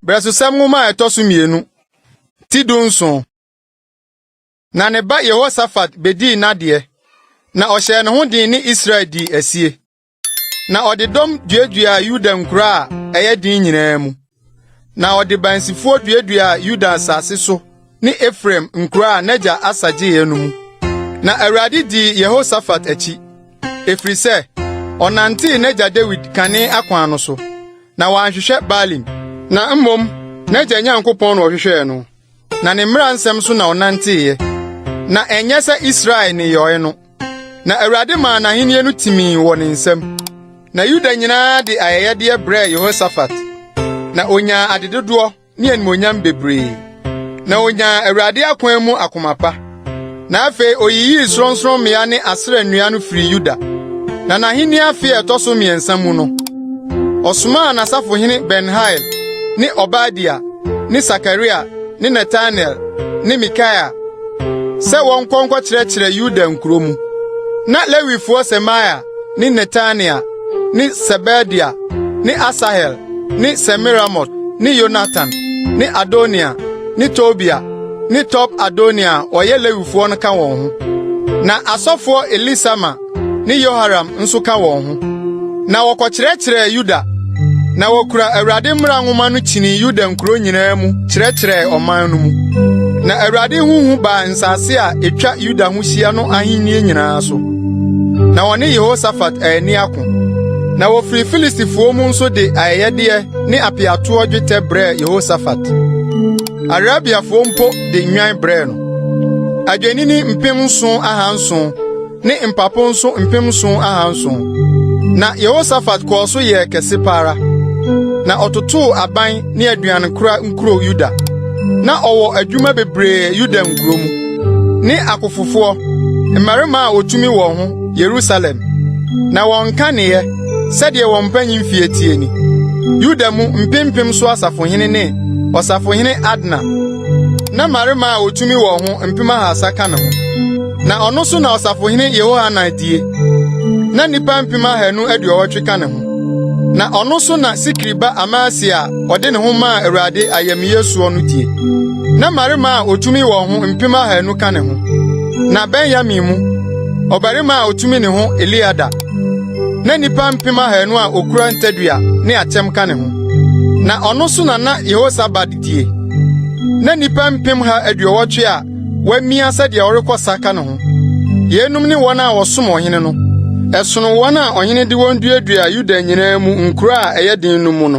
Brɛsosɛm nwoma a ɛtɔ so mmienu ti du nson. Na ne ba Yehosafat bedii n'adeɛ, na ɔhyɛɛ ne ho den ne Israel dii asie. na ɔde dɔm duaduaa Yuda nkuraa a ɛyɛ den nyinaa mu. Na ɔde bansifoɔ duaduaa Yuda asase so ne Efraim nkuraa a n'agya Asa gyeeɛ no mu. Na Awurade dii Yehosafat akyi, ɛfiri sɛ ɔnantee n'agya Dawid kane akwan no so, na wanhwehwɛ Baalim. Na mmom n'agya Nyankopɔn na ɔhwehwɛɛ no. na ne mmara nsɛm so na ɔnanteeɛ. Na ɛnyɛ sɛ Israel nneyɔeɛ no, na Awurade maa n'ahennie no timii wɔ ne nsam. Na Yuda nyinaa de ayɛyɛdeɛ brɛɛ Yehosafat, na ɔnyaa adedodoɔ ne animuonyam bebree. Na ɔnyaa Awurade akwan mu akoma pa. Na afei oyiyii sorɔnsorɔmmea ne Asera nnua no firii Yuda. Na n'ahenni afe a ɛtɔ so mmiɛnsa mu no, ɔsomaa n'asafohene Ben-Hail ne Obadia ne Sakaria ne Netanel ne Mikaia sɛ wɔnkɔ nkɔkyerɛkyerɛ Yuda nkuro mu. Na Lewifoɔ Semaia ne Netania ne Sebadia ne Asahel ne Semiramot ne Yonatan ne Adonia ne Tobia ne Top Adonia a wɔyɛ Lewifoɔ no ka wɔn ho. Na asɔfoɔ Elisama ne Yoharam nso ka wɔn ho. Na wɔkɔkyerɛkyerɛɛ Yuda, na wɔkura Awurade mmara nwoma no kyinii Yuda nkuro nyinaa mu kyerɛkyerɛɛ ɔman no mu. Na Awurade ho hu baa nsase a ɛtwa Yuda ho hyia no ahennie nyinaa so. na wɔne Yehosafat anni ako. Na wofii Filistifoɔ mu nso de ayɛyɛdeɛ ne apeatoɔ dwetɛ brɛɛ Yehosafat. Arabiafoɔ mpo de nnwan brɛɛ no. Adwennini mpem nson ahanson ne mpapo nso mpem nson ahanson. Na Yehosafat kɔɔ so yɛɛ kɛse pa ara. Na ɔtotoo aban ne aduankora nkuro Yuda. Na ɔwɔ adwuma bebree Yuda nkuro mu. ne akofofoɔ, mmarima a wɔtumi wɔn ho, Yerusalem, na wɔnka neyɛ sɛdeɛ wɔn mpanyin fie teɛ ni. Yuda mu mpempem so asafohene ne ɔsafohene Adna, na mmarima a wɔtumi wɔn ho mpem ahasa ka ne ho. Na ɔno so na ɔsafohene Yehohanan die, na nnipa mpem ahanu aduɔwɔtwe ka ne ho. Na ɔno so na Sikri ba Amasia a ɔde ne ho maa Awurade ayamyɛ soɔ no die. na mmarima a otumi wɔn ho mpem ahanu ka ne ho. Na Benyamin mu, ɔbarima a otumi ne ho Eliada, na nnipa mpem ahanu a okura ntadua ne akyɛm ka ne ho. Na ɔno so na na Yehosabad die. Na nnipa mpem ha aduɔwɔtwe a wɔamia sɛdeɛ ɔrekɔ sa ka ne ho. Yeinom ne wɔn a wɔsom ɔhene no. Ɛsono wɔn a ɔhene de wɔn duadua Yuda nyinaa mu nkuro a ɛyɛ den no mu no.